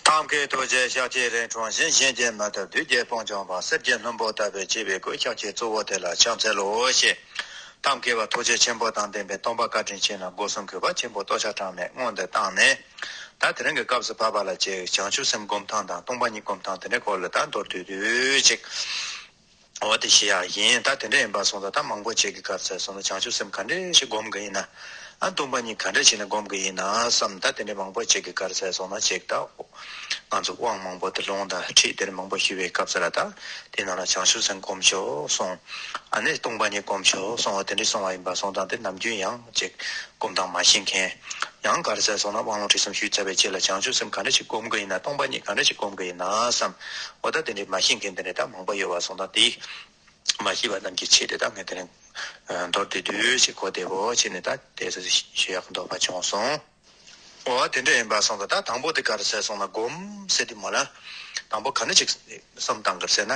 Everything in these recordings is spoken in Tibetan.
ཐང་གའི་རྡོ་རྗེ་ཤཱཀ་ཐའི་རའི་གྲངས་བཞིན་གཤེན་གྱི་མ་དང་བདུད་རྒྱལ་སྤང་བྱང་དང་གསེར་གྱི་ལྷུན་པོ་བཏབ་པའི་བྱེ་བའི་གོས་ཤཱཀ་ཆའི་གཙོ་བོ་དེ་ལ་ཕྱག་འཚལ་ལོ་ཞེས། ཐང་གའི་བ་ཐུགས་རྗེ་ཆེན་པོ་དང་ལྡན་པའི་སྟོང་པ་བཀའ་དྲིན་ཆེ་ན་སྒོ་གསུམ་གྱི་བ་ཆེན་པོ་ལྟོ་ཆ་དྲངས་ནས་སྔོན་དུ་བཏང་ནས། ད་དེ་རིང་གི་སྐབས་སུ་བབ་པ་ལ་བྱེད་བྱང་ཆུབ་སེམས་སྒོམ་ཐང་དང་སྟོང་པ་ཉིད་སྒོམ་ཐང་དེ་འདྲའི་སྐོར་ལ་ད་མདོར་བསྡུས་དུས་ཅིག། འོ་དེ་ཞི་ཡང་ཡིན་ད་དེ་འདྲ་ཡིན་པ་སོང་ད་ད་མང་པོ་བྱེད་གི་གར་ཚད་སོང་ད་བྱང་ཆུབ་སེམས་ག་འདྲེ་ཞིག་སྒོམ་གི་ཡིན་ན་ཨ་འདུག་པ་གཉིས་ག་འདྲེ་ཞིག་ནས་སྒོམ་གི་ཡིན་ན་བསམ་ད་དེ་འདྲེ་མང་པོ་བྱེད་གི་གར་ཚད་སོང་ད་བྱེད་ད་ང་ཚོ་དབང་མང་པོ་དེ་ལོང་ད་ཁྲིད་དེ་འདྲེ་མང་པོ་ཞུ་བའི་སྐབས་ཚད་ལ་ད་དེ་ནང་ལ་བྱང་ཆུབ་སེམས་སྒོམ་ཆོག་སོང་ཨ་ནས་སྟོང་པ་གཉིས་སྒོམ་ཆོག་སོང་འོ་དེ་འདྲེ་སོང་བ་ཡིན་པ་སོང་ད་དེ་ནམ་རྒྱུན་ཡང་བྱེད་སྒོམ་དང་མ་ཤེས་མཁན་ཡང་གར་རྩེད་སོང་ན་དབང་ལུང་ཁྲིད་གསུམ་ཞུས་བྱ་བའི་ཆེད་ལ་བྱང་ཆུབ་སེམས་ག་འདྲ་ཞིག་སྒོམ་གི་ཡིན་ན་སྟོང་པ་ཉིད་ག་འདྲ་ཞིག་སྒོམ་གི་ཡིན་ན་བསམ། འོ་ད་དེ་འདྲའི་མ་ཤེས་མཁན་དེ་འདྲ་ད་མང་པོ་ཡོད་བ་སོང་ད་དེ། མ་ཤེས་པ་རྣམས་ཀྱི་ཆེད་དུ་ད་ངས་དེ་ནས། མདོར་བསྡུས་བསྡུས་ཞེས་གོ་བདེ་བོ་བྱས་ནས་ད་དེ་ཟེར་ཞུ་ཡག་མདོག་པ་བྱུང་སོང། འོ་དེ་འདྲ་ཡིན་པ་སོང་ད་ད་དང་པོ་དེ་གར་རྩེད་སོང་ན་སྒོམ་ཟེར་དུས་མ་ལ། དང་པོ་ག་འདྲ་ཞིག་བསམ་དང་གར་རྩེད་ན།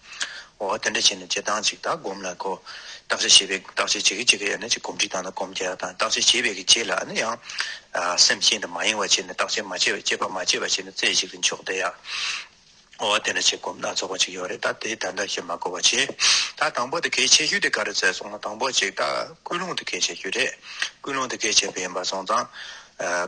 འོ་དེ་འདྲ་བྱས་ནས་བྱེད་སྟངས་གཅིག་དག་སྒོམ་ལ་གོ། བརྟག་དཔྱད་བྱེད་པའི་བརྟག་དཔྱད་བྱེད་གི་བྱེད་གི་ཡང་ན་ཅིག་གོམས་འདྲིས་དང་ན་གོམས་རྒྱག་དང་བརྟག་དཔྱད་བྱེད་པའི་གི་བྱེད་ལ་ནི་ཡང། སེམས་གཅིག་དང་མ་ཡེངས་བ་བྱས་ནས་བརྟག་དཔྱད་མ་བྱས་པ་དཔྱད་པ་མ་བྱས་པ་བྱས་ནས་རྩེ་གཅིག་ཏུ་འཇོག་བདེ་ཡ། འོ་དེ་འདྲ་བྱེད་སྒོམ་སྣ་ཚོགས་པ་ཅིག་ཡོད་རེད་ད་དེ་ད་ལྟ་ཞེས་མ་གོ་བར་བྱེད། ད་དང་པོ་དེ་གལ་ཆེ་ཤོས་དེ་ག་རེ་བཙལ་སོང་ན་དང་པོ་གཅིག་དག་ཀུན་སློང་དེ་གལ་ཆེ་ཤོས་རེད། ཀུན་སློང་དེ་གལ་ཆེ་བས་ཡིན་པར་སོང་ཙང།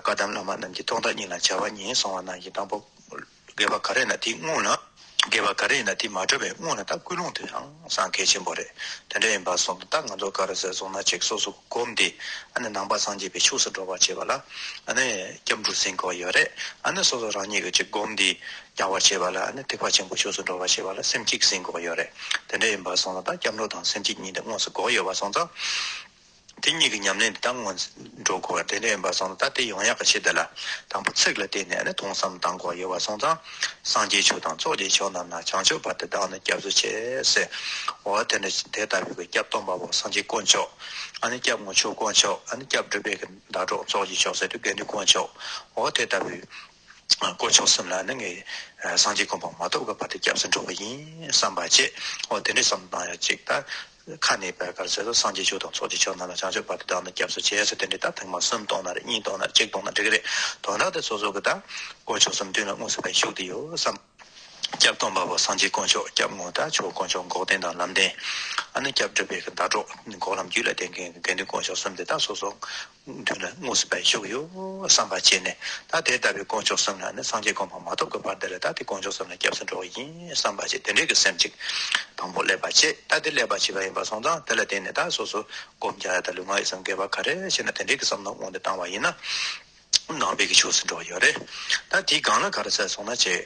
བཀའ་གདམས་བླ་མ་རྣམས་ཀྱིས་ཐོག་མཐའ་གཉིས་ལ་བྱ་བ་གཉིས་གསུངས་བ་ནང་བཞིན་དང་པོ། རྒས་པ་ག་རེ་ཡིན་ན་དེའི་སྔུན་ལ། རྒས་པ་ག་རེ་ཡིན་ན་དེ་མ་གྲོལ་བའི་སྔུན་ལ་དང་ཀུན་སློང་དེ་ཡང་སངས་རྒྱས་ཆེན་པོ་རེད་དེ་འདྲ་ཡིན་པར་སོམས་ན་ད་ང་ཚོ་ག་རེ་ཟེར་སོང་ན་ཅིག་སོ་སོ་བསྒོམས་ཏེ་ཨ་ནི་ནང་པ་སངས་རྒྱས་པའི་ཕྱོགས་སུ་འགྲོ་བར་བྱེད་པ་ལ་ཨ་ནི་སྐྱབས་འགྲོ་ཟིན་གོ་ཡོད་རེད་ཨ་ནི་སོ་སོ་རང་ཉིད་ཀྱིས་ཅིག་བསྒོམས་ཏེ་རྒྱག་བར་བྱེད་པ་ལ་ཨ་ནི་ཐེག་པ་ཆེན་པོའི་ཕྱོགས་སུ་འགྲོ་བར་བྱེད་པ་ལ་སེམས་གཅིག་ཟིན་གོ་ཡོད་རེད་དེ་འདྲ་ཡིན་པར་སོང་ན་ད་སྐྱབས་འགྲོ་དང་སེམས་གཅིག་གཉིས་དེ་དངོས་སུ་གོ་ཡོད་པར་སོང་ཙང། དེ་གཉིས་ཀྱི་ཉམས་ལེན་དེ་དག་སྔོན་འགྲོ་དགོས་པ་དེ་འདྲ་ཡིན་པར་སོང་ཙང་ད་ལྟའི་ཡོངས་ཡག་གི་ཆེད་དུ་ལ་དང་པོ་ཚིག་ལ་བརྟེན་ནས་ནི་དུང་སམ་དང་གོ་ཡོད་པར་སོང་ཙང་སངས་རྒྱས་ཆོས་དང་ཚོགས་ཀྱི་ཆོས་རྣམས་ན་བྱང་ཆུབ་པ་དེ་དག་ནི་སྐྱབས་སུ་བྱེད། ཟེར་བ་དེ་འདྲ་དེ་ལྟ་བུའི་གི་སྐྱབས་སྟོང་པ་པོ་སངས་རྒྱས་དཀོན་མཆོག་ཨ་ནི་སྐྱབས་མགོན་ཆོས་དཀོན་མཆོག་ཨ་ནི་སྐྱབས་སྒྲུབ་པའི་གི་ཟླ་གྲོགས་ཚོགས་ཀྱི་མཆོག་སེ་ཏུ་དགེ་འདུན་དཀོན་མཆོག་འོ་དེ་ལྟ་བུའི། དཀོན་མཆོག་སེམས་ལ་ནི་ངས་སངས་རྒྱས་དཀོན་པ་མ་ཐོབ་ཀྱི་བར་དུ་སྐྱབས་སུ་འགྲོ་བ་ཡིན་བསམ་པ་བྱས། འོ་དེ་འདྲའི་བསམ་བློ་བཏང་ཡོད་ཅིག་ད། ཁ་ནས་བད་གར་ཟེར་སོང་སངས་རྒྱས་ཆོས་དང་ཚོགས་ཀྱི་ཆོས་རྣམས་ལ་བྱང་ཆུབ་བར་དུ་བདག་ནི་སྐྱབས་སུ་བྱས་ཟེར་དེ་འདྲའི་ད་ཐེངས་མ་གསུམ་གཏོང་ན་རེད་གཉིས་གཏོང་ན་རེད་གཅིག་གཏོང་ན་འགྲིག་གི་རེད་དོན་དག་དེ་སོ་སོ་གི་ད། དཀོན་མཆོག་སེམས་མདུན་ལ་དངོས་སུ་བས་བཞུགས་ཏེ་ཡོད་བསམ། སྐྱབས་སྟོང་པ་པོ་སངས་རྒྱས་དཀོན་མཆོག་སྐྱབས་ངོ་ད་ཆོག་དཀོན་མཆོག་འགོག་བདེན་དང་ལམ་བདེན། ཨ་ནི་སྐྱབས་འགྲོ་བས་ཀྱི་ཟླ་གྲོགས་འགོག་ལམ་རྒྱུད་ལ་བསྟེན་མཁན་གྱི་དགེ་འདུན་དཀོན་མཆོག་གསུམ་དེ་ད་སོ་སོ་མདུན་ལ་དངོས་སུ་བཞུགས་ཡོད་བསམ་པར་བྱས་ནས་ད་དེ་ལྟ་བུའི་དཀོན་མཆོག་གསུམ་ལ་ནི་སངས་རྒྱས་དགོངས་པ་མ་ཐོབ་ཀྱི་བར་འདི་ལ་ད་དེ་དཀོན་མཆོག་གསུམ་ལ་སྐྱབས་སུ་འགྲོ་བ་ཡིན་བསམ་པར་བྱས་དེ་འབྲེལ་གྱི་སེམས་ཅིག་དང་པོ་བསླད་པར་བྱེད་ད་དེ་བསླད་པར་བྱས་པ་ཡིན་པར་སོང་ཙང་དེ་ལ་བརྟེན་ནས་ད་སོ་སོ་སྒོམ་རྒྱག་ཡ་ད་ལུས་ངག་ཡིད་གསུམ་འགལ་བ་ག་རེ་བྱས་ན་དེ་འབྲེལ་གྱི་བསམ་མནོ་དབང་དུ་བཏང་བ་ཡིན་ན་ནང་པའི་གི་ཕྱོགས་སུ་འགྲོ་བ་ཡོད་རེད་ད་དེའི་སྒང་ལ་ག་རེ་བྱས་སོང་ན་བྱས།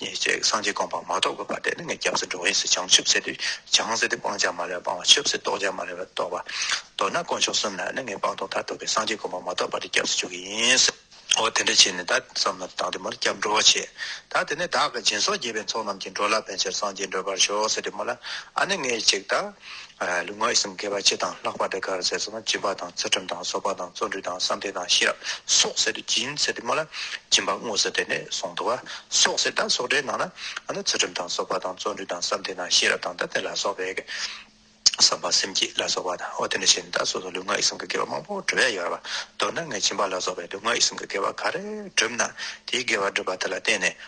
ཉེས་བྱས་ཀྱི་སངས་རྒྱས་བསྒོམ་པར་མ་གཏོགས་པའི་བར་དེ་ནི་ངས་སྐྱབས་སུ་འགྲོ་བ་ཡིན་ཟེར་བྱང་ཆུབ་སེམས་དེས་བྱང་སེམས་དེ་སྤང་བྱ་མ་ལས་པ་སྤང་བ་ཆུབ་སེམས་རྟོགས་བྱ་མ་ལས་པ་རྟོགས་པ། མདོར་ན་དཀོན་མཆོག་གསུམ་ལ་ནི་ངས་སྤང་ལྟུང་མཐར་ཐུག་གི་སངས་རྒྱས་བསྒོམ་པར་མ་གཏོགས་པ་དེ་སྐྱབས་སུ་འཇུག་གི་ཡིན། འོ་དེ་འདྲ་བྱས་ནས་ད་བསམ་ན་བདག་འདི་མོར་སྐྱབས་འགྲོ་བ་ཆེ། ད་དེ་ནས་བདག་གི་སྦྱིན་སོགས་རྒྱས་པའི་ཚོགས་རྣམས་ཀྱིས་འགྲོ་ལ་ཕན་ཕྱིར་སངས་རྒྱས་འགྲོད་པར་ཤོག་ཟེར་ཏེ་མོ་ལ་ཨ་ནི་ངས་གཅིག་ད། ལུས་ངག་ཡིད་གསུམ་དགེ་བ་སྤྱི་དང་ལྷག་པར་དུ་དགའ་བར་མཛད་སོགས་དང་སྦྱིན་པ་དང་ཚུལ་ཁྲིམས་དང་གསོལ་བ་དང་བརྩོན་འགྲུས་དང་བསམ་གཏན་དང་ཤེས་རབ་སོགས་ཟེར་ཏེ་སྦྱིན་ཟེར་ཏེ་སྨྲ་ལ། སྦྱིན་པ་དངོས་སུ་དེ་ནས་གསུངས་འདུག་བ། སོགས་ཟེར་དང་སོགས་སྒྲའི་ནང་ན། ཚུལ་ཁྲིམས་དང་གསོལ་བ་དང་བརྩོན་འགྲུས་དང་བསམ་གཏན་དང་ཤེས་རབ་དང་དང་དེ་ལ་སོགས་པའི། བསམ་པ་སེམས་བསྐྱེད་ལ་སོགས་པ་དང་འོ་དེ་འདྲ་བྱས་ནས་ད་གཟོད་དུ་ལུས་ངག་ཡིད་གསུམ་གྱི་དགེ་བ་མང་པོ་བསྒྲུབས་ཡ་ཡོད། མདོར་ན་ངས་སྦྱིན་པ་ལ་སོགས་པའི་ལུས་ངག་ཡིད་གསུམ་གྱི་དགེ་བ་ག་རེ་བསྒྲུབས་ན། དེའི་དགེ་བ་བསྒྲུབས་པ་དེ་ལ་བརྟེན་ནས་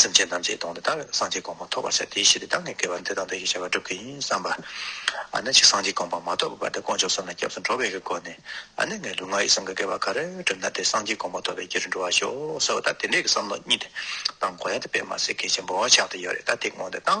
སེམས་ཅན་ཐམས་ཅད་སྟོང་སྟེ་ད་བས་ན་སངས་རྒྱས་གོང་མ་ཐོབ་པར་བྱ་སྟེ་ཞེས་པའི་གདངས་ནས་བསྐལ་པ་འདི་དང་འདི་ཞེས་བྱ་བ་སྒྲུབ་ཀྱི་ཡིན་བསམས་པ། ཨ་ནི་ཅིག་སངས་རྒྱས་གོང་མ་མ་ཐོབ་པའི་བར་དུ་དཀོན་མཆོག་གསུམ་ལ་སྐྱབས་སུ་འགྲོ་བའི་སྒོ་ནས་ཨ་ནི་ངའི་ལུས་ངག་ཡིད་གསུམ་གྱི་བསྐལ་པ་ག་རེ་བསྒྲུབས་ན་དེ་སངས་རྒྱས་གོང་མ་ཐོབ་པའི་རྒྱུ་རུ་འགྲོ་བར་ཤོག་ཟེར་བ་ད་དེ་འདྲའི་གི་བསམ་བློ་གཉིས་དེ་བཏང་གོ་ཡང་དེ་དཔེ་མ་ཟད་གལ་ཆེན་པོ་ཆགས་ཏེ་ཡོད་རེད་ད་དེ་སྔོན་དུ་བཏང།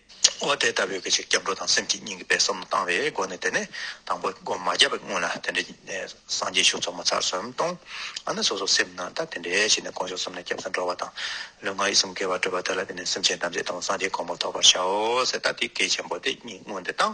འོ་དེ་ལྟ་བུའི་ཕྱིར་སྐྱབས་འགྲོ་དང་སེམས་ཀྱི་སྙིང་གི་དཔེ་བསམ་བློ་བཏང་བའི་སྒོ་ནས་དེ་ནས་དང་པོ་སྒོ་མ་བརྒྱབ་པའི་སྔོན་ལ་དེ་འདྲའི་སངས་རྒྱས་ཤུགས་འཚོ་མ་ཚར་སོན་གཏོང། ཨ་ནི་སོ་སོ་སེམས་ནང་ད་དེ་འདྲའི་ཞིག་ནས་གོང་ཞོག་གསུམ་ནས་སྐྱབས་སུ་འགྲོ་བ་དང། ལུས་ངག་ཡིད་གསུམ་དགེ་བར་བགྲོད་པ་དེ་ལ་བརྟེན་ནས་སེམས་ཅན་ཐམས་ཅད་དང་པོ་སངས་རྒྱས་གོང་འཕོ་ཐོབ་པར་བྱའོ་ཟེར་ད་དེའི་གལ་ཆེན་པོ་དེ་གཉིས་སྔོན་དུ་བཏང།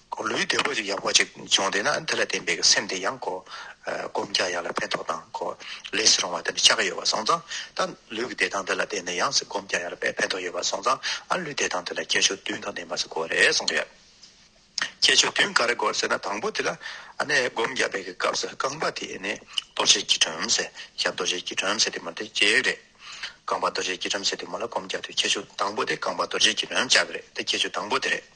ལུས་བདེ་པོ་ཅིག་ཡག་པོ་ཅིག་བྱུང་བསྡད་ན་དེ་ལ་བརྟེན་པའི་སེམས་དེ་ཡང་གོ། སྒོམ་རྒྱག་ཡག་ལ་ཕན་ཐོགས་དང་གོ། ལས་སུ་རུང་བ་དེ་འདྲ་ཆགས་ཀྱི་ཡོད་པ་སོང་ཙང་ད་ལུས་ཀྱི་བདེ་ཐང་དེ་ལ་བརྟེན་ནས་ཡང་སྒོམ་རྒྱག་ཡག་ལ་ཕན་ཐོགས་ཡོད་པ་སོང་ཙང་ཨ་ལུས་བདེ་ཐང་དེ་ལ་ཁྱད་ཆོས་བདུན་གང་ལྡན་པ་ཞིག་གོ་རེ་གསུངས་པ་ཡོད། ཁྱད་ཆོས་བདུན་ག་རེ་གོ་ཟེར་ན་དང་པོ་དེ་ལ་ཨ་ནི་སྒོམ་རྒྱག་པའི་གི་སྐབས་སུ་རྐང་པ་དེ་ནི་རྡོ་རྗེ་སྐྱིལ་ཀྲུང་ཟེར་ཞབས་རྡོ་རྗེ་སྐྱིལ་ཀྲུང་ཟེར་དེ་མོ་དེ་གཅིག་རེད། རྐང་པ་རྡོ་རྗེ་སྐྱིལ་ཀྲུང་ཟེར་དེ་མོ་ལ་སྒོམ་རྒྱག་དུས་ཁྱད་ཆོས་དང་པོ་དེ་རྐང་པ་རྡོ་རྗེ་སྐྱིལ་ཀྲུང་ལྕགས་རེད་དེ་ཁྱད་ཆོས་དང་པོ་དེ་རེད།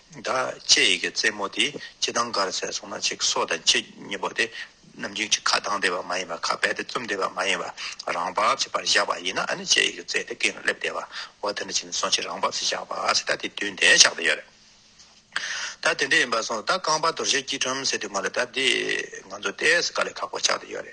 བདག་ཅེས་ཡི་གེ་རྩེ་མོ་དེ་ཅི་དང་གར་ཟད་སོང་ན་ཅིག་སྲོག་དང་ཅི་གཉིས་པོ་དེ་ནམ་རྒྱུན་གྱི་ཁ་གདངས་བསྡད་པ་མ་ཡིན་པར་ཁ་བད་དེ་བཙུམས་བསྡད་པ་མ་ཡིན་པར་རང་བབས་ཀྱི་བར་བཞག་པ་ཡིན་ན་ནི་ཅེས་ཡི་གེ་རྩེ་དེ་སྐེ་ལ་སླེབས་བསྡད་པ་འོ་དེ་འདྲ་བྱས་ནས་སོང་ཅིག་རང་བབས་སུ་བཞག་པ་ཟེར་ད་དེ་དུས་འདས་ཆགས་བསྡད་ཡོད་རེད། ད་དེ་འདྲ་ཡིན་པ་སོང་ད་རྐང་པ་དོར་ཞེས་སྐྱིལ་ཀྲུང་སེ་དེ་མ་ལ་ད་དེ་ང་ཚོ་ལྟས་སུ་ག་ལས་ཁག་པོ་ཆགས་བསྡད་ཡོད་རེད།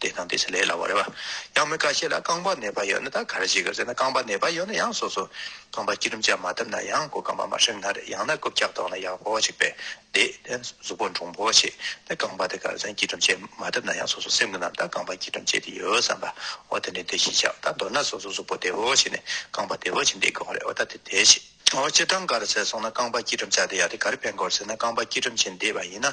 དེ་དང་དེ་ཕྱེ་ལས་ལ་བ་རེད་བ། ཡང་མི་ཁ་ཤས་ལ་རྐང་པ་ནད་པ་ཡོད་ན་ད་ག་རེ་བྱེད་དགོས་ཟེར་ན་རྐང་པ་ནད་པ་ཡོད་ན་ཡང་སོ་སོ་རྐང་པ་སྐྱིལ་ཀྲུམ་བཅག་མ་བཏབ་ན་ཡང་གོ་རྐང་པ་མ་ཧྲིམ་ན་རེད་ཡང་ན་རྐུབ་བཀྱག་བཏོག་ན་ཡག་པོ་བ་ཞིག་བེད་བདེ་དེ་གཟུགས་པོ་འབྲོང་པོ་བ་བྱེད་དེ་རྐང་པ་དེ་ག་རེ་ཟན་སྐྱིལ་ཀྲུམ་བྱས་མ་བཏབ་ན་ཡང་སོ་སོ་སེམས་གི་ནང་ད་རྐང་པ་སྐྱིལ་ཀྲུམ་བྱས་དེ་ཡོད་བསམ་པ་འོ་དེ་འདྲའི་དེ་བྱེད་བྱ་ད་མདོར་ན་སོ་སོ་གཟུགས་པོ་བདེ་བོ་བ་བྱེད་ནས་རྐང་པ་བདེ་བོ་བྱེད་འདི་དགོས་བ་རེད་འོ་ད་དེ་དེ་བྱེད། འོ་སྤྱིར་བཏང་ག་རེ་ཟེར་སོང་ན་རྐང་པ་སྐྱིལ་ཀྲུམ་བཅག་དེ་ཡག་དེ་ག་རེ་ཕན་དགོས་རེད་ཟེར་ན་རྐང་པ་སྐྱིལ་ཀྲུམ་བྱེད་འདི་བ་ཡིན་ན་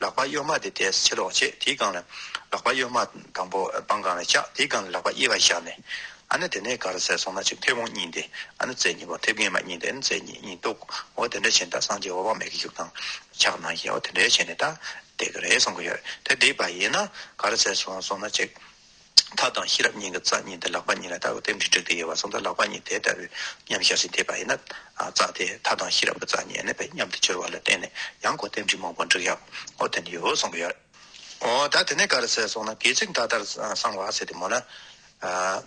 ལག་པ་གཡོགས་མ་དེ་དེས་ཕྱིར་ལོག་བྱེད་དེའི་སྒང་ལ། ལག་པ་གཡོགས་མ་དང་པོ་སྤང་སྒང་ལ་བཅག་དེའི་སྒང་ལ་ལག་པ་དབྱེ་བར་བཞག་ནས། ཨ་ན་དེ་ནས་ག་རུ་ཟས་སོང་ན་གཅིག་མཐེ་བོང་གཉིས་འདི་ཨ་ན་ཙེ་གཉིས་པོ་མཐེབ་རྒན་མ་གཉིས་འདི་ཨ་ན་ཙེ་གཉིས་གཉིས་གཏུག་འོ་དེ་འདྲ་བྱས་ནས་ད་སངས་རྒྱས་འོ་བག་མེད་ཀྱི་གཞུག་དང། ཕྱག་ན་གཞལ་འོ་དེ་འདྲ་བྱས་ནས་ད་བསྡད་ཀྱི་རེད་གསུང་གི་ཡོད་དེ་བསྡད་པ་ཡིན་ན་ག་རུ་ཟས་སོང་ན་གཅིག། ཐག་དང་ཤེས་རབ་གཉིས་ཀྱི་རྩ་གཉིས་འདི་ལག་པ་གཉིས་ལ་ལྟ་བའི་རྟེན་འབྲེལ་འགྲིག་ཏུ་དབྱེ་བ་གསུངས་ལྟར་ལག་པ་གཉིས་དེ་ལྟ་བུའི་མཉམ་གཞག་ཅིང་བསྡེབས་པ་ཡིན་ན། རྩ་དེ་ཐག་དང་ཤེས་རབ་ཀྱི་རྩ་གཉིས་ནི་བས་མཉམ་དུ་གྱུར་བ་ལ་བརྟེན་ནས་ཡང་སྒོ་རྟེན་འབྲེལ་མང་པོ་འགྲིག་ཡ་ཨོ་དེ་ནི་ཡོད་གསུངས་པ་ཡོད། འོ་ད་དེ་ནས་ག་རེ་ཟེར་སོང་ན་དགེ་ཚིག་མདའ་ལྟར་གསང་བ་ཟེར་ཏེ་མོ་ན།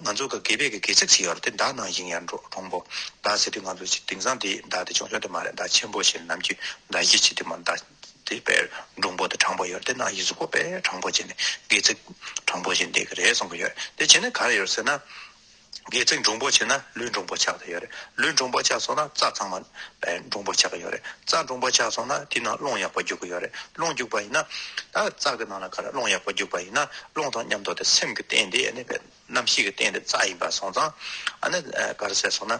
ང་ཚོ་གི་དགེ་བེད་ཀྱི་དགེ་ཚིག་ཅིག་ཡོད་རེད་དེ་མདའ་ནང་བཞིན་ཡར་འགྲོ་གྲོང་པོ་མདའ་ཟེར་དུས་ང་ཚོ་ཅིག་དེང་སང་དེའི་མདའ་དེ་ཆུང་ཆུང་དེ་མ་རེད་མདའ་ཆེན་པོ་ཞེས་ནམ་རྒྱུན་མདའ་བཞི་ཕྱི་དེ་མོ་མདའ། དེ་བས་འབྲོང་བུ་དང་དྲང་པོ་ཡོད་དེ་ན་ཡིད་སྲུབ་པོ་པས་དྲང་པོ་བྱས་ནས་སྒལ་ཚིགས་དྲང་པོ་བྱས་འདེད་ཀྱི་རེད་གསུངས་པ་ཡོད་དེ་བྱས་ན་ག་རེ་ཡོད་ཟེར་ན། སྒལ་ཚིགས་འབྲོང་པོ་བྱས་ན་ལུས་འབྲོང་པོ་ཆགས་ཀྱི་ཡོད་རེད་ལུས་འབྲོང་པོ་ཆགས་སོང་ན་རྩ་ཚང་མ་འབྲོང་པོ་ཆགས་ཀྱི་ཡོད་རེད་རྩ་འབྲོང་པོ་ཆགས་སོང་ན་དེའི་ནང་རླུང་ཡག་པོ་རྒྱུག་གི་ཡོད་རེད་རླུང་རྒྱུག་པ་ཡིན་ན། ད་རྩ་གི་ནང་ལ་ག་རེ་རླུང་ཡག་པོ་རྒྱུག་པ་ཡིན་ན་རླུང་དང་མཉམ་དུ་དེ་སེམས་ཀྱི་རྟེན་དེ་གནས་པའི་རྣམ་ཤེས་ཀྱི་རྟེན་དེ་རྩ་ཡིན་པ་སོང་ཙང་ཨ་ནི་ག་རེ་ཟེར་སོང་ན།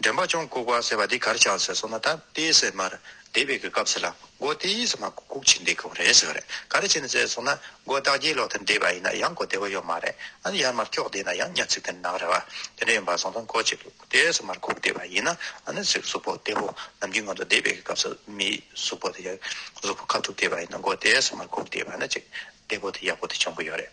འདྲེན་པ་ཅོང་ལྐུགས་པ་ཟེར་བ་འདི་གར་ཆགས་ཟེར་སོང་ན་ད་དཔེ་ཟེར་མར་སྡེ་བའི་གི་སྐབས་ཟེར་ལ་མགོ་སྟེ་ཡིད་ཟེར་མ་གུག་གུག་བྱེད་འདི་གང་རེད་ཟེར་བ་རེད་ག་རེ་བྱེད་ནས་ཟེར་སོང་ན་མགོ་བདག་རྒྱའི་ལོག་ཏུ་འདེད་པ་ཡིན་ན་ཡང་གོ་བདེ་བོ་ཡོད་མ་རེད་ཨ་ནི་ཡར་མར་ཀྱོག་བསྡད་ན་ཡང་ཉག་ཚིག་དེ་ནག་རེད་བ་དེ་འདྲ་ཡིན་པ་སོང་སོང་གོ་བྱེད་འདུག་དེ་ཟེར་མར་གུག་བསྡད་པ་ཡིན་ན་ཨ་ནི་ཟིག་གཟུགས་པོ་བདེ་བོ་ནམ་རྒྱུན་ང་ཚོ་སྡེ་བའི་གི་སྐབས་སུ་མིའི་གཟུགས་པོ་དེ་ཡང་གཟུགས་པོ་ཁ་ཐུག་བསྡད་པ་ཡིན་ན་མགོ་དེ་ཟེར་མར་གུག་བསྡད་པ་ན་ཅིག་བདེ་བོ་དེ་ཡག་པོ་དེ་བྱུང་གི་ཡོད་རེད།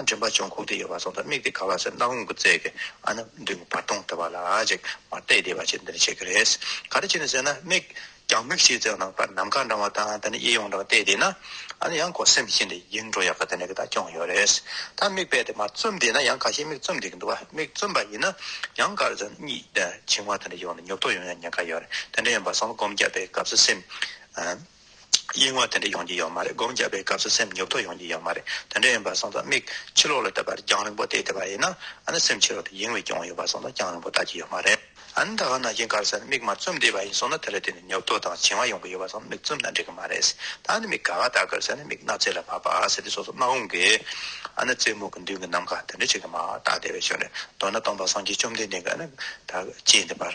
མགྲིན་པ་བྱང་ཁུག་ཏུ་ཡོད་པ་སོགས་དང་དམིགས་ཏེ་ག་ལ་སྲིད་སྣང་ངུ་རྩལ་གྱིས་ཨ་ནི་མདུན་གྱི་བར་སྟོང་དེ་བ་ལ་ཅིག་མ་བལྟས་བལྟས་པ་ཅིག་འདི་ནས་བྱེད་ཀྱི་རེད། ག་རེ་བྱེད་ནས་ཟེར་ན་མིག་རྒྱང་མིག་ཕྱེད་རྩེ་བ་ན་བར་ནམ་མཁའ་འདྲ་བ་དང་དེ་ནས་གཡས་གཡོན་འདྲ་བ་བལྟས་བལྟས་ན་ཨ་ནི་ཡང་གོ་སེམས་ཤིན་ཏེ་ཡིད་འགྲོ་ཡག་གི་དེ་ནས་གི་དག་སྐྱོང་ཡོད་རེད། ད་མིག་བལྟས་ཏེ་མར་བཙུམ་བསྡད་ན་ཡང་ག་ཤེད་མིག་བཙུམ་བསྡད་ཀྱི་འདུག་བ་མིག་བཙུམ་པ་ཡིན་ན་ཡང་ག་རེ་ཟེར་ན་གཉིད་འཆིང་བ་དེ་འདྲ་ཡོང་ནས་ཉོབ་ཐོག་ཡོང་ཡང་ཉེན་ཁ་ཡོད་རེད་དེ་འདྲ་ཡིན་པ་སོང་ལ་སྒོམ་རྒྱག་པའི་སྐབས་སུ་སེམས་གཡེང་བ་དེ་འདྲ་ཡོང་གི་ཡོད་མ་རེད་སྒོམ་རྒྱག་པའི་སྐབས་སུ་སེམས་ཉོབ་ཐོ་ཡོང་གི་ཡོད་མ་རེད་དེ་འདྲ་ཡིན་པ་སོང་ཙང་མིག་ཕྱི་ལོག་ལ་བལྟ་བར་རྒྱང་རིང་པོ་བལྟས་བསྡད་པ་ཡིན་ན་ཨ་ན་སེམས་ཕྱི་ལོག་ཏུ་གཡེང་བའི་སྐྱོན་ཡོད་པ་སོང་ཙང་རྒྱང་རིང་པོ་ལྟ་གི་ཡོད་མ་རེད་ཨ་ན་ད་ག་ན་གཡེང་ཁར་སེམས་མིག་མ་བཙུམ་བསྡད་པ་ཡིན་སོང་ན་དེ་ལ་བརྟེན་ནས་ཉོབ་ཐོ་དང་བྱིང་བ་ཡོང་གི་ཡོད་པ་སོང་ན་མིག་བཙུམ་ན་འགྲིག་གི་མ་རེད་ད་ཨ་ན་མིག་ག་ག་བལྟ་དགོས་ཟེར་ན་མིག་སྣ་རྩེ་ལ་བབས་པ་ཟེར་དུས་སོ་སོ་སྣ་འོང་གི་ཨ་ན་རྩེད་མོ་གི་མདུན་གྱི་ནམ་མཁའ་དེ་འདྲ་བྱེད་གི་མ་རྟགས་དེ་བས་ཆུང་ནས་མདོར་ན་སྟོང་པ་སངས་རྒྱས་བཅོམ་ལྡན་འདས་ཀྱིས་ཨ་ན་ད་ཅི་ཡིན་འདི་བར།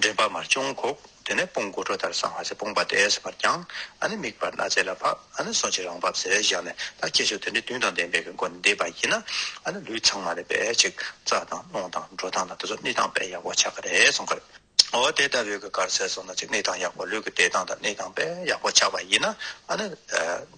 འདྲེན་པ་མར་ཅུང་བཀུག། དེ་ནས་དཔུང་དགུ་སྤྲོ་དར་བསང་བ་ཚེ་དཔུང་པ་དེས་བར་བརྐྱང། ཨ་ནི་མིག་བར་སྣ་རྩེ་ལ་ཕབ། ཨ་ནི་སོ་ཕྱི་རང་བབས་ཟེར་བཞག་ནས་ད་ཁྱེད་ཚོས་དེ་འདྲའི་དུས་དང་ལྡན་པའི་གི་མགོ་ནས་འདེབས་པ་ཡིན་ན། ཨ་ནི་ལུས་ཚང་མ་ལས་པས་ཅིག་རྩ་དང་རླུང་དང་འགྲོ་སྟངས་དང་དེ་ཚོ་གནས་སྟངས་པས་ཡག་པོ་ཆགས་ཀྱི་རེད་གསུངས་ཀྱི་རེད། འོ་དེ་ལྟ་བུའི་གི་གར་ཟས་སོང་ན་ཅིག་གནས་སྟངས་ཡག་པོ་ལུས་ཀྱི་བདེ་ཐང་དང་གནས་སྟངས་པས་ཡག་པོ་ཆགས་པ་ཡིན་ན། ཨ་ནི།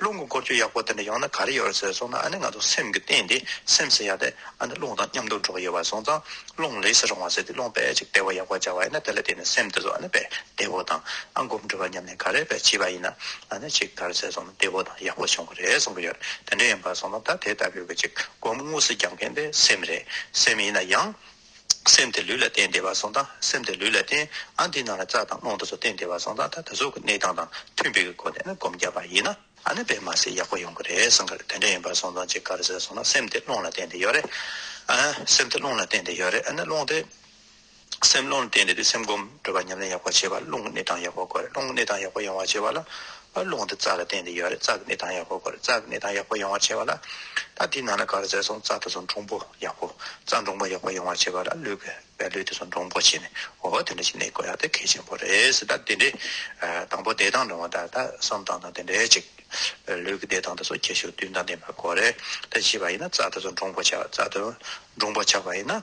རླུང་གི་སྐོར་ཅུང་ཡག་པོ་དེ་འདྲ་ཡོང་ན་ག་རེ་ཡོད་ཟེར་སོང་ན་ཨ་ནི་ང་ཚོ་སེམས་ཀྱི་སྟེང་དེ་སེམས་སུ་ཡ་དེ་ཨ་ནི་རླུང་དང་མཉམ་དུ་འགྲོགས་ཡོད་པ་སོང་ཙང་རླུང་ལས་སུ་རུང་བ་ཟེར་དེ་རླུང་དཔེ་ཅིག་བདེ་བོ་ཡག་པོ་བྱ་བ་ཡིན་ན་དེ་ལ་བརྟེན་ནས་སེམས་དེ་ཚོ་ཨ་ནི་དཔེ་བདེ་བོ་དང་ཨ་སྒོམ་འགྲོ་བ་མཉམ་ནས་ག་རེ་བས་བྱས་པ་ཡིན་ན་ཨ་ནི་ཅིག་ག་རེ་ཟེར་སོང་ན་བདེ་བོ་དང་ཡག་པོ་བྱུང་གི་རེད་གསུང་གི་ཡོད་དེ་འདྲ་ཡིན་པ་སོང་ན་ད་དེ་ལྟ་བུའི་གི་ཅིག་སྒོམ་དངོས་སུ་རྒྱག་མཁན་དེ་སེམས་རེད་སེམས་ཡིན་ན་ཡང། སེམས་དེ་ལུས་ལ་བརྟེན་བདེ་བར་སོང་ད་སེམས་དེ་ལུས་ལ་བརྟེན་ཨ་འདི་ནང་ལ་རྩ་དང་རླུང་དང་སོགས་བརྟེན་བདེ་བར་སོང་ད་ད་གཟུགས་ཀྱི་གནས་སྟངས་དང་མཐུན་པའི་སྒོ་ནས་སྒོམ་རྒྱག་པ་ཡིན་ན་ཨ་ནི་བས་མ་ཟད་ཡག་པོ་ཡོང་གི་རེད་བསམ་གི་རེད་དེ་འདྲ་ཡིན་པར་སོང་ཙང་ཅིག་ག་རེ་ཟེར་སོང་ན་སེམས་དེ་རླུང་ལ་བརྟེན་བདེ་ཡོད་རེད་ཨ། སེམས་དེ་རླུང་ལ་བརྟེན་བདེ་ཡོད་རེད་ཨ་ནི་རླུང་དེ། སེམས་རླུང་ལ་བརྟེན་བདེ་དུས་སེམས་སྒོམ་སྒྲུབ་པ་ཉམས་ལེན་ཡག་པོ་བྱེད་པ་རླུང་གི་གནས་སྟངས་ཡག་པོ་དགོས་རེད་རླུང་གི་གནས་སྟངས་ཡག་པོ་ཡོང་བར་བྱེད་པ་ལ་ཨ་རླུང་དེ་རྩ་ལ་བརྟེན་ཏེ་ཡོད་རེད་རྩ་གི་ནད་དང་ཡག་པོ་དགོས་རེད་རྩ་གི་ནད་དང་ཡག་པོ་ཡོང་བར་བྱེད་པ་ལ། ད་དེའི་ནང་ན་ག་རེ་བཟས་སོང་རྩ་དེ་ཚོ་འདྲོངས་པོ་ཡག་པོ་རྩ་འདྲོངས་པོ་ཡག་པོ་ཡོང་བར་བྱེད་པ་ལ་ལུས་དགོས་བས་ལུས་དེ་ཚོ་འདྲོངས་པོ་བྱས་ནས་འོ་དེ་འདྲ་ཞིག་ནད་འགོ་ཡག་དེ་གལ་ཆེན་པོ་རེད་ད་དེ་འདྲའི། དང་པོ་བདེ་ཐང་འདྲོངས་བ་དང་ད་བསམ་སྟངས་དང་དེ་འདྲའི་ཅིག། ལུས་ཀྱི་བདེ་ཐང་དེ་ཚོ་ཁྱད་ཞུགས་བསྟུན་དང་ལྡན་པ་དགོས་རེད་ད་བྱིས་པ་ཡིན་ན་རྩ་དེ་ཚོ་འདྲོངས་པོ་བྱ་རྩ་དེ་འདྲོངས་པོ་ཆགས་པ་ཡིན་ན།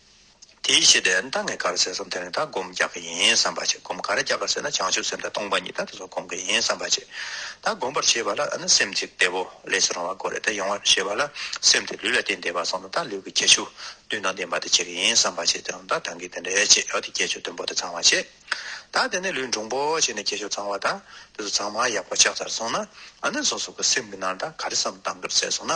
དེའི་ཕྱིར་དེ་ལྟ་ངས་ག་རེ་ཟེར་སོང་དེ་རིང་ད་སྒོམ་རྒྱག་གི་ཡིན་བསམ་པ་ཅིག་སྒོམ་ག་རེ་རྒྱག་ག་ཟེར་ན་བྱང་ཆུབ་སེམས་དང་སྟོང་པ་ཉིད་ད་དེ་ཚོ་སྒོམ་གི་ཡིན་བསམ་པ་ཅིག་ད་སྒོམ་པར་བྱེད་པ་ལ་ཨ་ན་སེམས་ཅིག་བདེ་བོ་ལས་སུ་རང་བར་གོ་རེ་ད་ཡོང་བར་བྱེད་པ་ལ་སེམས་དེ་ལུས་ལ་བརྟེན་བདེ་བ་སོང་ན་ད་ལུས་ཀྱི་ཁྱད་ཆོས་བདུན་དང་ལྡན་པ་དེ་བྱེད་གི་ཡིན་བསམ་པ་ཅིག་དེ་རུང་ད་གྲང་གིས་དེ་འདྲའི་ཆེད་ཡོད་དེ་ཁྱད་ཆོས་བདུན་པོ་དེ་ཚང་བར་བྱེད་ད་དེ་ནས་ལུས་འབྲུང་པོ་བྱས་ནས་ཁྱད་ཆོས་ཚང་བ་ད་དེ་ཚོ་ཚང་མ་ཡག་པོ་ཆགས་ཚར་སོང་ན་ཨ་ན་སོ་སོ་གི་སེམས་ཀྱི་ནང་ད་ག་རེ་བསམ་བཏང་གི་རེད་ཟེར་སོང་ན།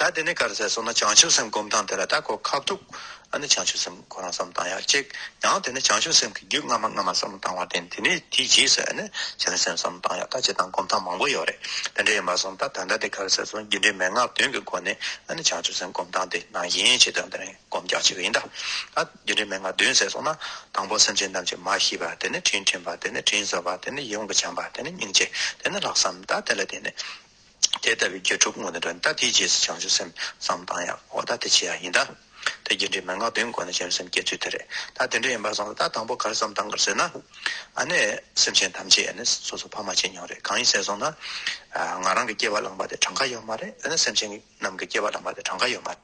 ད་དེ་ནས་ག་རེ་ཟེར་སོང་ན་བྱང་ཆུབ་སེམས་བསྒོམ་སྟངས་དེ་ལ་ད་གོ་ཁ་བཏུག། ཨ་ནི་བྱང་ཆུབ་སེམས་ཁོ་རང་བསམ་བཏང་ཡག་ཅིག་ཡང་དེ་ནས་བྱང་ཆུབ་སེམས་ཀྱི་རྒྱུད་སྔ་མ་སྔ་མ་བསམ་བཏང་བར་བརྟེན་དེ་ནས་དེའི་རྗེས་སུ་ཨ་ནི་བྱང་ཆུབ་སེམས་བསམ་བཏང་ཡག་ད་བྱེད་སྟངས་བསྒོམ་སྟངས་མང་པོ་ཡོད་རེད་དེ་འདྲ་ཡིན་པར་སོང་ད་ད་ལྟ་དེ་ག་རེ་ཟེར་སོང་རྒྱུ་འབྲས་མན་ངག་བདུན་གྱི་སྒོ་ནས་ཨ་ནི་བྱང་ཆུབ་སེམས་བསྒོམ་སྟངས་དེ་ནང་བཞིན་བྱེད་སྟངས་དེ་རིང་བསྒོམ་རྒྱག་བྱེད་ཀྱི་ཡིན་ད། ད་རྒྱུ་འབྲས་མན་ངག་བདུན་ཟེར་སོང་ན་དང་པོ་སེམས་ཅན་ཐམས་ཅད་མ་ཤི་བ་དེ་ནས་དྲིན་དྲན་པ་དེ་ནས་དྲིན་གཟོ་བ་དེ་ནས་ཡོངས་སུ་བྱམས་པ་དེ་ནས་སྙིང་རྗེ་དེ་ནས་ལྷག་བསམ་ད་དེ་ལ་བརྟེན་ནས་དེ་ལྟ་བུའི་དགེ་སྒྲུབ་དངོས་ནི་དོན་ལྟ་དེའི་རྗེས་སུ་བྱང་ཆུབ་སེམས་བསམ་བཏང་ཡང་འོག་ལྟ་དེ་ཆེ་ཡང་ཡིན་ལྟ། དེ་རྒྱུ་འབྲས་མན་ངག་བདུན་དགོངས་ནས་བྱང་ཆུབ་སེམས་བསྐྱེད་ཚུལ་དེ་རེད་ལྟ་དེ་འདྲ་ཡིན་པར་བསམ་ལ་ད་དང་པོ་གར་བསམ་བཏང་གར་ཟེར་ན། ཨ་ནི་སེམས་ཅན་ཐམས་ཅད་ནི་སོ་སོ་ཕ་མ་ཅི་མྱོང་རེད་གང་ཡིན་ཟེར་སོང་ན། ང་རང་གི་སྐྱེ་བ་བླངས་པ་དེ་གྲངས་ཀ་ཡོད་མ་རེད་འོ་ན་སེམས་ཅན་རྣམས་ཀྱི་སྐྱེ་བ་བླངས་པ་དེ་གྲངས་ཀ་ཡོད་མ་རེད།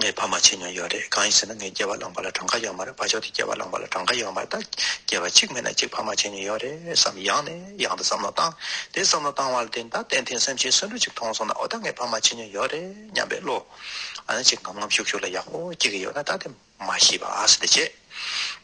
ངས་ཕ་མ་བྱས་མྱོང་ཡོད་རེད་གང་ཡིན་ཟེར་ན་ངས་སྐྱེས་བ་བླངས་པ་ལ་གྲངས་ཀ་ཡོད་མ་རེད་བ་ཅོག་དེ་སྐྱེས་བ་བླངས་པ་ལ་གྲངས་ཀ་ཡོད་མ་རེད་ད་སྐྱེས་བ་གཅིག་མེད་ན་གཅིག་ཕ་མ་བྱས་མྱོང་ཡོད་རེད་བསམ་ཡང་ནས་ཡང་དུ་བསམ་བློ་བཏང་དེ་བསམ་བློ་བཏང་བ་ལ་བརྟེན་ད་གཏན་འཐེན་སེམས་ཅན་སུན་འགྲུབ་ཅིག་མཐོང་སོང་ན་འོ་ད་ངས་ཕ་མ་བྱས་མྱོང་ཡོད་རེད་སྙམ་པའི་བློ་ཅིག་ངམ་ངམ་ཤུགས་ཤུགས་ལ་ཡག་པོ་སྐྱེ་གི་ཡོད་ན་ད་དེ་མ་ཤེས་པ་ཨ་སི་དེ་བྱས།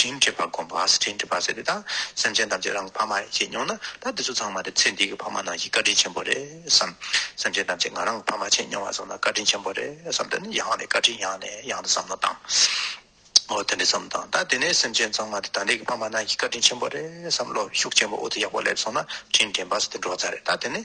དྲིན་བྱེད་པ་སྒོམ་པ་ཟེར་དྲིན་དྲིན་པ་ཟེར་དེ་དག་སེམས་ཅན་ཐམས་ཅད་རང་གི་ཕ་མ་ཡིན་ཞེས་མྱོང་ན་ད་འདི་ཚོ་ཚང་མ་དེ་ཚེ་འདི་གི་ཕ་མ་ནང་བཞིན་བཀའ་དྲིན་ཆེན་པོ་རེད་བསམ། སེམས་ཅན་ཐམས་ཅད་ང་རང་གི་ཕ་མ་ཆེས་མྱོང་བ་བསམ་ན་བཀའ་དྲིན་ཆེན་པོ་རེད་བསམ་དེ་ནི་ཡང་ནས་བཀའ་དྲིན་ཡང་ནས་ཡང་དུ་བསམ་མོ་དང། འོ་དེ་འདྲས་བསམ་དང་ད་དེ་ནས་སེམས་ཅན་ཚང་མ་དེ་ད་འདི་གི་ཕ་མ་ནང་བཞིན་བཀའ་དྲིན་ཆེན་པོ་རེད་བསམ་བློ་ཤུགས་ཆེན་པོ་འུ་ཐུག་ཡག་པོ་སླེབས་སོང་ན་དྲིན་དྲན་པ་ཟེར་དེ་འགྲོ་བ་ཚར་རེད་ད་དེ་ནས།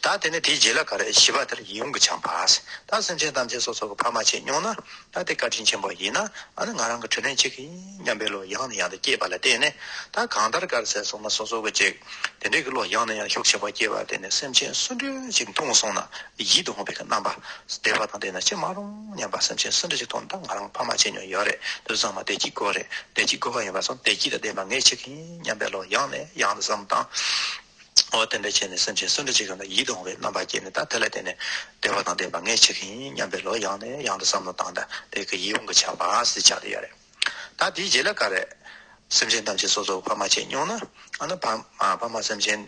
ད་དེ་ནས་དེའི་རྗེས་ལ་ག་རེ་བྱིས་པ་དེར་ཡིད་འོང་གི་ཆང་བར། ད་སེམས་ཅན་ཐམས་ཅད་སོ་སོ་གི་ཕ་མ་བྱེད་མྱོང་ན། ད་དེ་བཀའ་དྲིན་ཆེན་པོ་ཡིན་ན། ཨ་ནི་ང་རང་གི་དྲིན་ལན་གཅིག་ཡིན་སྙམ་པའི་བློ་ཡང་ནས་ཡང་དུ་སྐྱེས་པ་ལ་བརྟེན་ནས། ད་གང་ལྟར་དཀར་ཟས་སོང་ན་སོ་སོ་གི་ཅིག། དེ་འདྲའི་གི་བློ་ཡང་ནས་ཡང་ཤུགས་ཆེན་པོ་སྐྱེས་པར་བརྟེན་ནས་སེམས་ཅན་སུ་འདྲི་ཞིག་མཐོང་སོང་ན། ཡིད་འོང་བའི་གི་རྣམ་པ། བདེ་བ་དང་ལྡན་ན་ཅི་མ་རུང་སྙམ་པ་སེམས་ཅན་སུ་འདྲི་ཞིག་མཐོང་ན་ད་ང་རང་ཕ་མ་བྱེད་མྱོང་ཡོད་རེད་དུ་བཟང་མ་བདེ་སྐྱིད་དགོས་རེད་བདེ་སྐྱིད་དགོས་པ་ཡིན་པ་སོང་བདེ་སྐྱིད་དང་ལྡན་པ་ངེས་ཅིག་ཡིན་སྙམ་པའི་བློ་ཡང་ནས་ཡང་དུ་བསམ་དང། འོ་དེ་འདྲ་བྱས་ནས་སེམས་ཅན་སུ་འདྲ་ཅིག་གམ་ལ་ཡིད་དུ་འོང་བའི་རྣམ་པ་སྐྱེས་ནས་ད་དེ་ལ་བརྟེན་ནས་བདེ་བ་དང་ལྡན་པ་ངས་བྱེད་ཀྱི་ཡིན་སྙམ་པའི་ལོག་ཡང་ནས་ཡང་དུ་བསམ་མནོ་བཏང་ད་དེ་གི་ཡིད་འོང་གི་ཆགས་པ་སྲིད་ཆགས་དེ་ཡོད་རེད། ད་དེའི་རྗེས་ལ་ག་རེ། སེམས་ཅན་ཐམས་ཅད་སོ་སོར་ཕ་མ་བྱས་མྱོང་ན། ཨ་ན་ཕ་ཕ་མ་སེམས་ཅན་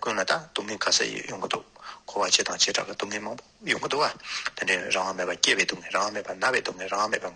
ཀུན་ལ་ད་སྡུག་བསྔལ་ག་ས་ཡི་ཡོང་གི་འདུག་འཁོར་བ་སྤྱི་དང་བྱེ་བྲག་གི་སྡུག་བསྔལ་མང་པོ་ཡོང་གི་འདུག་བ་དེ་འདྲའི་རང་དབང་མེད་པ་སྐྱེ་བའི་སྡུག་བསྔལ་རང་དབང་མེད་པ་ན་བའི་སྡུག་བསྔལ་རང་དབང་མེད་པ།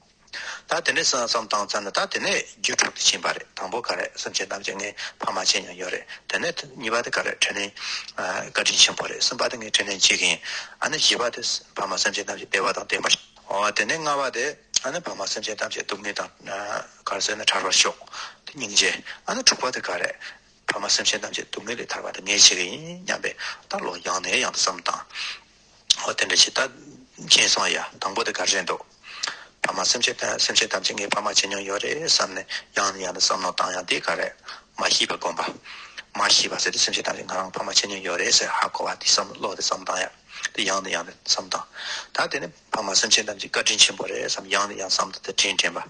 ད་དེ་ནས་བསམ་བསམ་བཏང་བཏང་ནས་ད་དེ་ནས་རྒྱུ་དྲུག་དེ་ཕྱིན་པ་རེད་དང་པོ་ག་རེད་སེམས་ཅན་ཐམས་ཅད་ངའི་ཕ་མ་ཆེ་ཉམས་ཡོད་རེད་དེ་ནས་གཉིས་པ་དེ་ག་རེད་དྲིན་ལན་བཀའ་དྲིན་ཆེན་པོ་རེད་གསུམ་པ་དེ་ངའི་དྲིན་ལན་གཅིག་ཡིན་ཨ་ནི་བཞི་པ་དེ་ཕ་མ་སེམས་ཅན་ཐམས་ཅད་བདེ་བ་དང་བརྟན་པ་ཞིག་འོ་དེ་ནས་ལྔ་བ་དེ་ཨ་ནི་ཕ་མ་སེམས་ཅན་ཐམས་ཅད་སྡུག་བསྔལ་དང་ག་རེ་ཟེར་ན་ཐར་བར་ཤོག་དེ་སྙིང་རྗེ་ཨ་ནི་དྲུག་པ་དེ་ག་རེད་ཕ་མ་སེམས་ཅན་ཐམས་ཅད་སྡུག་བསྔལ་ལས་ཐར་བ་དེ་ངའི་བྱེད་ཡིན་སྙམ་པའི་ལྟར་ལོ་ཡང་ནས་ཡང་དུ་བསམ་བཏང། ཨོ་དེ་འདྲ་བྱས་ད། སྦྱིན་སོང་ཡ། དང་པོ་དེ་ག་རེད་འདུག། ཕ་མ་སེམས་ཅན་སེམས་ཅན་ཐམས་ཅད་ངའི་ཕ་མ་བྱེད་མྱོང་ཡོད་རེད་བསམ་ནས་ཡང་ནས་ཡང་ནས་བསམ་མནོ་བཏང་ཡང་དེ་ག་རེད། མ་ཤི་བ་སྒོམ་པ། མ་ཤི་བ་ཟེར་ཏེ་སེམས་ཅན་ཐམས་ཅད་ང་རང་ཕ་མ་བྱེད་མྱོང་ཡོད་རེད་ཟེར་ཧ་གོ་བ་དེ་བསམ་བློ་དེ་བསམ་བཏང་ཡ། དེ་ཡང་ནས་ཡང་ནས་བསམ་བཏང། ད་དེ་ནི་ཕ་མ་སེམས་ཅན་ཐམས་ཅད་བཀའ་དྲིན་ཆེན་པོ་རེད་བསམ་ཡང་ནས་ཡང་བསམ་ད་དེ་དྲིན་དྲན་པ།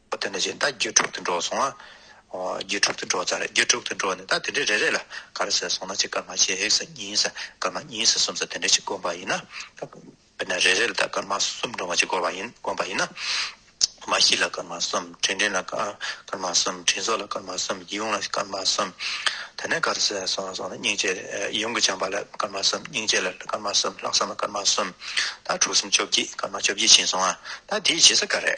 ཨོ་དེ་འདྲ་བྱས་ད་རྒྱུད་དྲུག་ཏུ་འགྲོ་སོང་ང། ཨོ་རྒྱུད་དྲུག་ཏུ་འགྲོ་ཚར་རྒྱུད་དྲུག་ཏུ་འགྲོ་ནས་ད་དེ་འདྲའི་རེ་རེ་ལ་ག་རེ་ཟེར་སོང་ན་གཅིག་ཀརྨ་ཆེ་ཧེག་ས་གཉིས་ས་ཀརྨ་གཉིས་ས་གསུམ་ས་དེ་འདྲ་ཞིག་བསྒོམ་པ་ཡིན་ན། དཔེར་ན་རེ་རེ་ལ་ད་ཀརྨ་གསུམ་འགྲོ་བ་ཞིག་བསྒོམ་པ་ཡིན་བསྒོམ་པ་ཡིན་ན། མ་ཤི་ལ་ཀརྨ་གསུམ་དྲིན་དྲན་ལ་ཀརྨ་གསུམ་དྲིན་གཟོ་ལ་ཀརྨ་གསུམ་ཡིད་འོང་ལ་ཀརྨ་གསུམ། དེ་ནས་ག་རེ་ཟེར་སོང་ན་སྙིང་རྗེ་ཡིད་འོང་གི་བྱམས་པ་ལ་ཀརྨ་གསུམ་སྙིང་རྗེ་ལ་ཀརྨ་གསུམ་ལྷག་བསམ་ལ་ཀརྨ་གསུམ། ད་དྲུག་གསུམ་བཅོ་བརྒྱད་ཀརྨ་བཅོ་བརྒྱད་བྱིན་སོང་ང་ད་དེའི་རྗེས་ས་ག་རེ།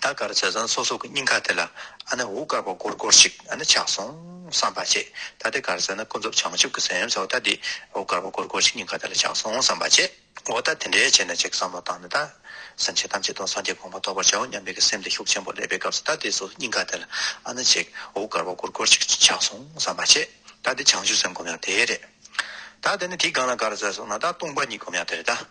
ད་གར་བྱས་ཙང་སོ་སོ་གི་སྙིང་ཁ་དེ་ལ་ཨ་ནེ་འུ་དཀར་པོ་གོར་གོར་ཞིག་ཨ་ནེ་ཆགས་སོང་བསམ་པ་བྱེད། ད་དེ་གར་བྱས་ན་ཀུན་རྫོབ་བྱང་ཆུབ་ཀྱི་སེམས་སོགས་ད་འདི་འུ་དཀར་པོ་གོར་གོར་ཞིག་སྙིང་ཁ་དེ་ལ་ཆགས་སོང་བསམ་པ་བྱེད། འོ་ད་དེ་འདྲའི་བྱས་ནས་ཅིག་བསམ་བློ་བཏང་ནས་ད། སེམས་ཅན་ཐམས་ཅད་དང་སངས་རྒྱས་དགོངས་པ་ཐོབ་པར་བྱའོ་སྙམ་པའི་གི་སེམས་དེ་ཤུགས་ཆེན་པོ་སླེབས་པའི་སྐབས་སུ་ད་དེ་སོ་སོ་སྙིང་ཁ་དེ་ལ་ཨ་ནེ་ཅིག་འུ་དཀར་པོ་གོར་གོར་ཞིག་ཆགས་སོང་བསམ་པ་བྱེད། ད་འདི་བྱང་ཆུབ་སེམས་སྒོམ་ཡང་དེ་རེད། ད་དེ་ནི་དེའི་སྒང་ལ་གར་བྱས་སོང་ན་ད་ལྟུང་བ་གཉིས་སྒོམ་ཡང་དེ་རེད་ད།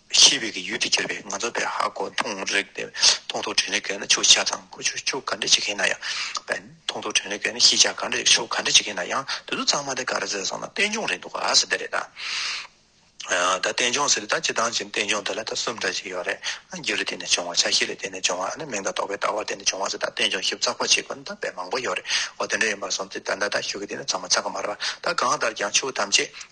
ཤེས་བྱའི་ཡུལ་དུ་གྱུར་པའི་ང་ཚོ་པའི་ཧ་གོ་མཐོང་རེག་པའི་མཐོང་ཐོས་དྲན་རེག་གི་ཆོས་ཤ་ཚ་མཁོ་ཆོས་ཕྱོགས་ག་འདྲས་ཅིག་ཡིན་ན་ཡང། པའི་མཐོང་ཐོས་དྲན་རེག་གི་ཤེས་བྱ་ག་འདྲས་ཅིག་ཕྱོགས་ག་འདྲས་ཅིག་ཡིན་ན་ཡང་དེ་ཚོ་ཚང་མ་དེ་ག་རེ་ཟེར་སོང་ན་རྟེན་འབྱུང་རེད་འདུག་ག་ཟེར་དེ་རེད་ད། ད་རྟེན་འབྱུང་ཟེར་དེ་ད་ཇི་ལྟར་བྱས་ནས་རྟེན་འབྱུང་དེ་ལ་ད་གསུམ་ལྟར་ཅིག་ཡོད་རེད་ཨ། རྒྱུ་ལ་བརྟེན་ནས་བྱུང་བ་ཆ་ཤས་ལ་བརྟེན་ནས་བྱུང་བ་ཨ་ནི་མིང་དང་རྟོག་པའི་ལྟ་བར་བརྟེན་ནས་བྱུང་བ་ཟེར་ད་རྟེན་འབྱུང་ཞིབ་ཚགས་པོ་བྱེད་དགོས་ན་ད་དཔེ་མང་པོ་ཡོད་རེད་འོ་དེ་འདྲ་ཡིན་པར་སོང་སྟེ་ད་ད་ད་ཞོག་གི་དེ་ནི་ཚང་མ་ཚ་གི་མ་རེད་པ་ད་གང་ལྟར་ཀྱང་ཆོས་ཐམས་ཅད་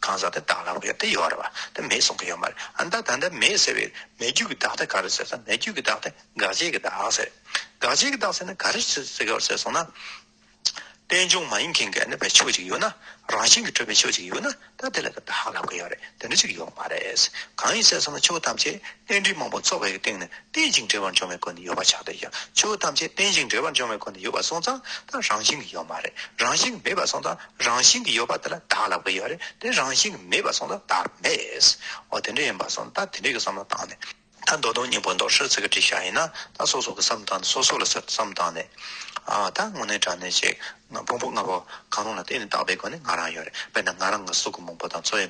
གང་ཟག་དེ་དག་ལ་ཡོད་དེ་ཡོད་རེད་བ་དེ་མེད་གསུང་གི་ཡོད་མ་རེད་ཨ་མདའ་ད་ལྟ་མེད་ཟེར་བའི་མེད་རྒྱུ་གི་བདག་དེ་ག་རེ་ཟེར་ས་མེད་རྒྱུ་གི་བདག་དེ་དགག་བྱེད་ཀྱི་བདག་ཟེར་དགག་བྱེད་ཀྱི་བདག་ཟེར་ན་ག་རེ་ཟེར་ཟེར་སོང་ན། རྟེན་འབྱུང་མ་ཡིན་མཁན་གྱི་ནད་པའི་ཕྱོགས་གཅིག་ཡོད་ན་རང་བཞིན་གྱི་གྲུབ་པའི་ཕྱོགས་གཅིག་ཡོད་ན་ད་དེ་ལ་ད་བདག་ལབ་ཀྱི་ཡོད་རེད་དེ་འདྲ་ཅིག་ཡོད་མ་རེད། གང་ཡིན་ཟེར་སོང་ན་ཆོས་ཐམས་ཅད་རྟེན་འབྲེལ་མང་པོ་ཚོགས་པའི་སྟེང་ནས་རྟེན་ཅིང་འབྲེལ་བར་འབྱུང་བའི་སྒོ་ནས་ཡོད་པ་ཆགས་བསྡད་ཀྱང་ཆོས་ཐམས་ཅད་རྟེན་ཅིང་འབྲེལ་བར་འབྱུང་བའི་སྒོ་ནས་ཡོད་པ་སོང་ཙང་ད་རང་བཞིན་གྱི་ཡོད་མ་རེད་རང་བཞིན་གྱི་མེད་པ་སོང་ཙང་རང་བཞིན་གྱིས་ཡོད་པ་དེ་ལ་བདག་ལ་བའི་ཡོད་རེད་དེ་རང་བཞིན་གྱིས་མེད་པར་སོང་ན་བདག་མེད། འོ་དེ་འདྲ་ཡིན་པར་སོང་ད་དེ་འདྲའི་གི་བསམ་བློ་བཏང་ནས། ད་མདོ་དོན་སྙིང་པོ་མདོར་བཤད་ཚིག་གི་བྲིས་ཤག་ཡིན་ན་ད་སོ་སོ་གི་བསམ་བཏང་ནས་སོ་སོ་ལ་གསེར་དུ་བསམ་བཏང་ནས། ད་དངོས་གནས་དྲ་གནས་ཅིག་ཕུང་པོ་ལྔ་པོ་གང་རུང་ལ་བརྟེན་ནས་བཏགས་པའི་སྒོ་ནས་ང་རང་ཡོད་རེད་དཔེར་ན་ང་རང་གི་སྲོག་གི་མང་པོ་དང་འཚོ་བའི།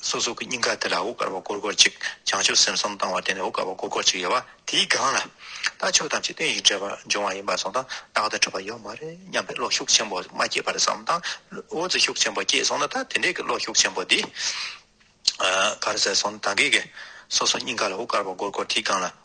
སོ་སོ་གི་སྙིང་ག་དེ་ལ་འོད་དཀར་བ་སྐོར་སྐོར་ཅིག་བྱང་ཆུབ་སེམས་གསུམ་བཏང་བ་དེ་ནས་འོད་དཀར་བ་སྐོར་སྐོར་ཅིག་ཡལ་བ་དེའི་སྒང་ལ། ད་ཆོས་ཐམས་ཅད་དོན་ཡིད་འདྲེས་པར་འབྱུང་བ་ཡིན་པར་སོང་དང་རྟག་ཏུ་འཕྲོད་པ་ཡོད་མ་རེད་སྙམ་པའི་བློ་ཤུགས་ཆེན་པོ་མ་སྐྱེས་པར་བསམ་དང། འོད་ཙི་ཤུགས་ཆེན་པོ་སྐྱེས་སོང་ན་ད་དེ་འདྲའི་གི་བློ་ཤུགས་ཆེན་པོ་འདི། གར་ཟད་སོང་ད་གེ་གེ། སོ་སོ་སྙིང་ག་ལ་འོད་དཀར་བ་སྐོར་སྐོར་དེའི་སྒང་ལ།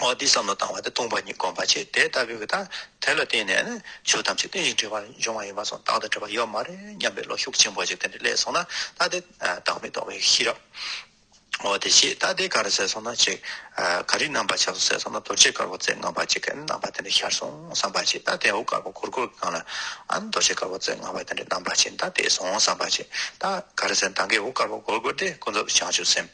འོག་འདིས་བསམ་བློ་བཏང་བ་དེ་སྟོང་པ་ཉིད་སྒོམ་པར་བྱེད་དེ་ལྟ་བུའི་གྱི་དང་དེ་ལ་བརྟེན་ནས་ནི་ཆོས་ཐམས་ཅད་རྟེན་ཅིང་འབྲེལ་བར་འབྱུང་བ་ཡིན་པར་སོང་བདག་དང་བྲལ་བ་ཡོད་མ་རེད་སྙམ་པའི་བློ་ཤུགས་ཆེན་པོ་ཞིག་དེ་འདྲའི་སླད་སོང་ན་ད་ལྟའི་བདག་མེད་རྟོགས་པའི་ཤེས་རབ། འོ་དེ་ཞེས་ད་ལྟའི་ག་རེ་ཟེར་སོང་ན་ཅིག། ག་རེའི་རྣམ་པར་ཆགས་སོ་ཟེར་སོང་ན་རྡོ་རྗེ་དཀར་པོ་རྩེ་ལྔ་པ་ཅིག་གི་རྣམ་པ་དེ་འདྲ་ཤར་སོང་བསམ་པར་བྱེད་ད་དེའུ་དཀར་པོ་གུར་གུར་གྱི་སྒང་ལ་ཨང་རྡོ་རྗེ་དཀར་པོ་རྩེ་ལྔ་པ་དེ་འདྲའི་རྣམ་པ་ཅིག་ད་དེ་སོང་བསམ་པར་བྱེད་ད་ག་རེ་ཟེར་མདངས་ཀའི་འུ་དཀར་པོ་གུར་གུར་དེ་ཀུན་རྫོབ་བྱང་ཆུབ་སེམས།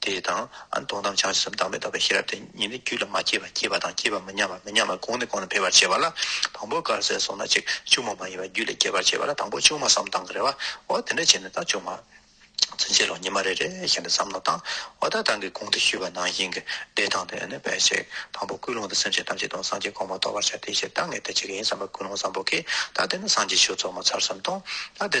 དེ་དང། སྟོང་གཏམ་ཆགས་ཞེན་སེམས་དྭངས་མས་བཏབ་པའི་ཤེས་རབ་དེ་ཉིད་ནི་རྒྱུད་ལ་མ་སྐྱེས་པ་སྐྱེས་པ་དང་སྐྱེས་པ་མི་ཉམས་པ་མི་ཉམས་པ་གོང་ནས་གོང་ལ་འཕེལ་བར་བྱེད་པ་ལ་དང་པོ་དཀར་ཟས་སོགས་ན་གཅིག་ལྕུག་མ་མ་ཡིན་པ་རྒྱུད་ལས་སྐྱེད་པར་བྱེད་པ་ལ་དང་པོ་ལྕུག་མ་བསམ་སྟངས་ཀྱི་རེ་བ་འོ་དེ་འདྲ་བྱས་ནས་ད་ལྕུག་མ་ཚུན་ཆད་ལོ་ཉི་མ་རེ་རེ་བཞིན་དུ་བསམ་ནོ་དང། འོ་ད་ལྟ་འདི་གོང་དུ་ཞུས་པ་ནང་བཞིན་གྱི་བདེ་ཐང་དུ་ནི་འཕེལ་ཞིག་དང་པོ་ཀུན་སློང་དུ་སེམས་ཅན་ཐམས་ཅད་དང་སངས་རྒྱས་གོང་མ་རྟོགས་པར་བྱ་སྟེ་ཞེས་ད་ངས་འདི་བྱེད་ཀྱི་ཡིན་བསམ་པ་ཀུན་སློང་བཟང་པོ་གིས་ད་འདི་ནི་སངས་རྒྱས་ཆོས་ཚོགས་མ་ཚར་བསམ་དང། ད་འདི།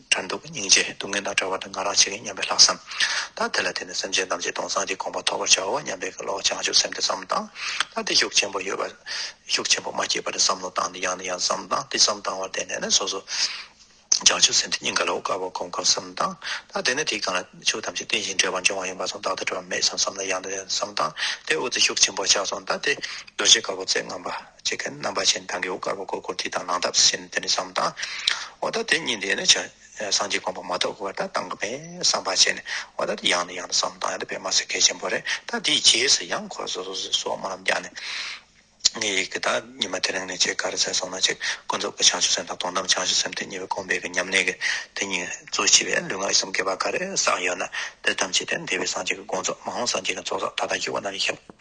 དྲན་སྡུག་སྙིང་རྗེ་སྡུག་བསྔལ་དང་བྲལ་བ་ནི་ང་རང་བྱེད་ཀྱི་སྙམ་པའི་ལྷག་བསམ། ད་དེ་ལ་བརྟེན་ནས་སེམས་ཅན་རྣམས་ཀྱི་སྟོང་སངས་ཀྱི་དགོངས་པ་ཐོབ་པར་བྱའོ་སྙམ་པའི་བློ་བྱང་ཆུབ་སེམས་དེ་བསམ་དང། ད་དེ་ཤུགས་ཆེན་པོ་ཡོད་པ། ཤུགས་ཆེན་པོ་མ་སྐྱེས་པ་དེ་བསམ་བློ་བཏང་ནས་ཡང་ནས་ཡང་བསམ་དང་དེ་བསམ་དང་བར་བརྟེན་ནས་ནི་སོ་སོ། བྱང་ཆུབ་སེམས་དེ་སྙིང་ག་ལ་འོ་དཀར་བར་གོམས་དཀའ་བསམ་དང། ད་དེ་ནི་དེ་གང་ལ་ཆོས་ཐམས་ཅད་རྟེན་ཅིང་འབྲེལ་བར་འབྱུང་བ་ཡིན་པ་སོང་བདག་ལྟ་གྲོལ་བ་མེད་བསམ་བསམ་ལ་ཡང་ནས་ཡང་བསམ་དང་དེ་འོ་དེ་ཤུགས་ཆེན་པོ་ཆགས་སོང་ད་དེ། རྡོ་རྗེ་དཀར་པོ་རྩེ་ལྔ་པ། བྱེད་མཁན་རྣམ་པ་ཆེན་ཐང་གི་འོད་དཀར་པོ་གོ་བསྐོར་དེ་དང་ནང་འདབས་སུ་ཞེན་ནས་དེ་ནས་བསམ་དང། འོ་ད་དེ་གཉིས་འདས་ནས་བྱ། སངས་རྒྱས་དགོངས་པ་མ་རྟོགས་གོ་བ་ད་དང་གི་བས་བསམ་པ་བྱས་ནས་འོ་ད་དེ་ཡང་ནས་ཡང་ནས་བསམ་དང་ཡང་དེ་པས་མ་ཟད་གལ་ཆེན་པོ་རེད་ད་དེའི་རྗེས་སུ་ཡང་འཁོར་སོ་སོ་སོའི་སོག་མ་རྣམས་བརྒྱག་ནས། ངའི་ཡིད་ཀྱི་ད་ཉི་མ་དེ་རིང་ནས་ཆེས་དཀའ་རུ་ཚད་སོང་ན་ཅིག་ཀུན་རྫོབ་ཀྱི་བྱང་ཆུབ་སེམས་དང་དོན་དམ་བྱང་ཆུབ་སེམས་དེ་གཉིས་པོ་གོམས་པས་ཀྱི་མཉམ་གནས་ཀྱི་དེ་གཉིས་གཙོ་ཆེ་བས་ལུས་ངག་ཡིད་གསུམ་དགེ་བ་ག་རེ་བསགས་ཡོད་ན་དེ་ཐམས་ཅད་དེ་འདས་པའི་སངས་རྒྱས་ཀྱི་དགོངས་རྫོགས་མ་འོངས་སངས་རྒྱས་ཀྱི་ཚོགས་བསགས་ད་ལྟ་འཇུག་པ་རྣམས་ཡིན་ཞིང།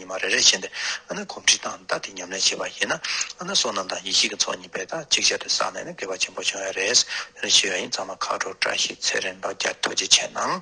ཉི་མ་རེ་རེ་བཞིན་དུ་ཨ་ན་གོམས་འདྲིས་དང་བདག་གི་ཉམས་ལེན་བྱེད་པ་ཡིན་ན་ཨ་ན་བསོད་ནམས་དང་ཡེ་ཤེས་ཀྱི་ཚོགས་གཉིས་པས་དག་ཅིག་ཆར་དུ་བསགས་ནས་ནི་དགེ་བ་ཆེན་པོ་འབྱུང་བས་རེས་དེ་འདྲ་བྱེད་ཡ་ཡིན་ཚང་མ་ཁག་དྲུག་བཀྲ་ཤིས་ཚེ་རིང་ལོ་བརྒྱ་ཐུགས་རྗེ་ཆེ་གནང།